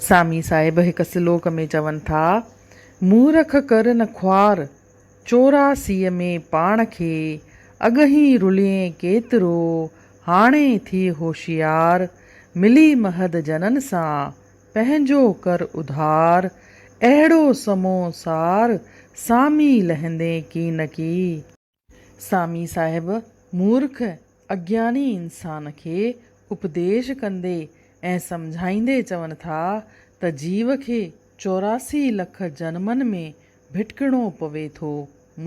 سامي صاحب هڪ سلوڪ ۾ چون ٿا، مورک ڪر نه خوار، چوراسيء ۾ پاڻ کي اڳهين رلئين ڪيترو، هاڻي ٿي هوشيار، ملي مهد جنن سان، پنهنجو ڪر اڌار، اهڙو سمو سار، سامي لهندين ڪين ڪي. سامي صاحب مورک اگياڻي انسان کي اپديش ڪندي ۽ سمجهائيندي چون ٿا ته جيو کي چوراسي لک جنمن ۾ ڀٽڪڻو پوي ٿو.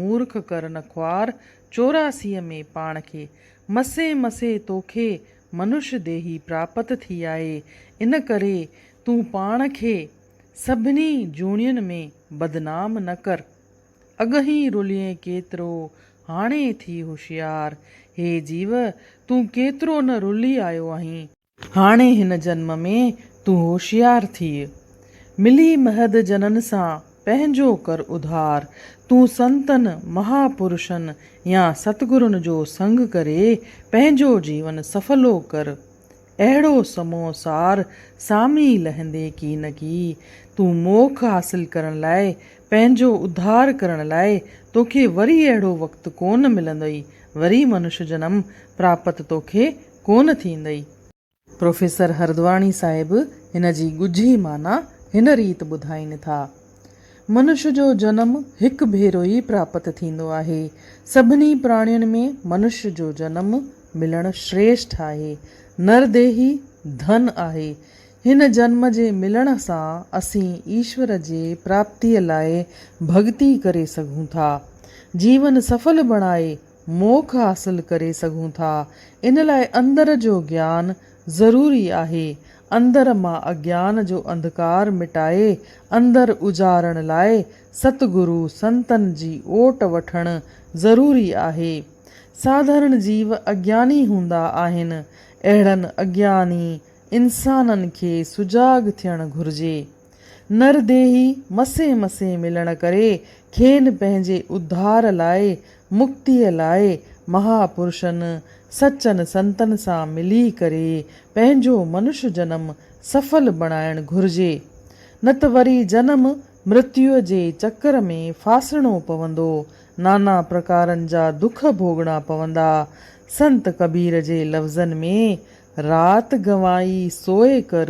مورک ڪرن خوار چوراسيء ۾ پاڻ کي مسي مسي توکي منش ديهي پراپت ٿي آهي ان ڪري تون پاڻ کي سڀني جوڻين ۾ بدنام نه ڪر. اڳهين رلئين ڪيترو، هاڻي ٿي هوشيار. هي جيو! تون ڪيترو نه رلي آيو آهين. هاڻي هن جنم ۾ تون هوشيار ٿيء. ملي مهد جنن سان پنهنجو ڪر اڌار. تون سنتن، مها پرشن يا ستگرن جو سنگ ڪري پنهنجو جيون سڦلو ڪر. اهڙو سمو سار سامي لهندي ڪي نه ڪي، تون موک حاصل ڪرڻ لاء، پنهنجو اڌار ڪرڻ لاء توکي وري اهڙو وقت ڪونه ملندئي، وري منش جنم پراپت توکي ڪونه ٿيندئي. پروفيسر هردواڻي صاحب هن جي ڳجهي معنيٰ هن ريت ٻڌائين ٿا. منش جو جنم هڪ ڀيرو ئي پراپت ٿيندو آهي. سڀني پراڻين ۾ منش جو جنم ملڻ شريشٺ آهي. نر ديهي ڌن آهي. هن جنم جي ملڻ سان اسين ايشور جي پراپتيء لاء ڀڳتي ڪري سگهون ٿا. جيون سڦل بڻائي موکھ حاصل ڪري سگھون ٿا. ان لاء اندر جو گيان ضروري آهي. اندر مان اگيان جو انڌڪار مٽائي اندر اجارڻ لاء ست گرو سنتن جي اوٽ وٺڻ ضروري آهي. ساڌارڻ جيو اگياني هوندا آهن. اهڙن اگياني انسانن کي سجاڳ ٿيڻ گھرجي. نر ديهي مسيح مسيح ملڻ ڪري کين پنهنجي اڌار لاء، مڪتيء لاء مها پرشن، سچن سنتن سان ملي ڪري پنهنجو منش جنم سڦل بڻائڻ گهرجي. نه ته وري جنم مرتيو جي چڪر ۾ ڦاسڻو پوندو، نانا پرڪارن جا دک ڀوڳڻا پوندا. سنت ڪبير جي لفظن ۾، رات گنوائي سوئي ڪر،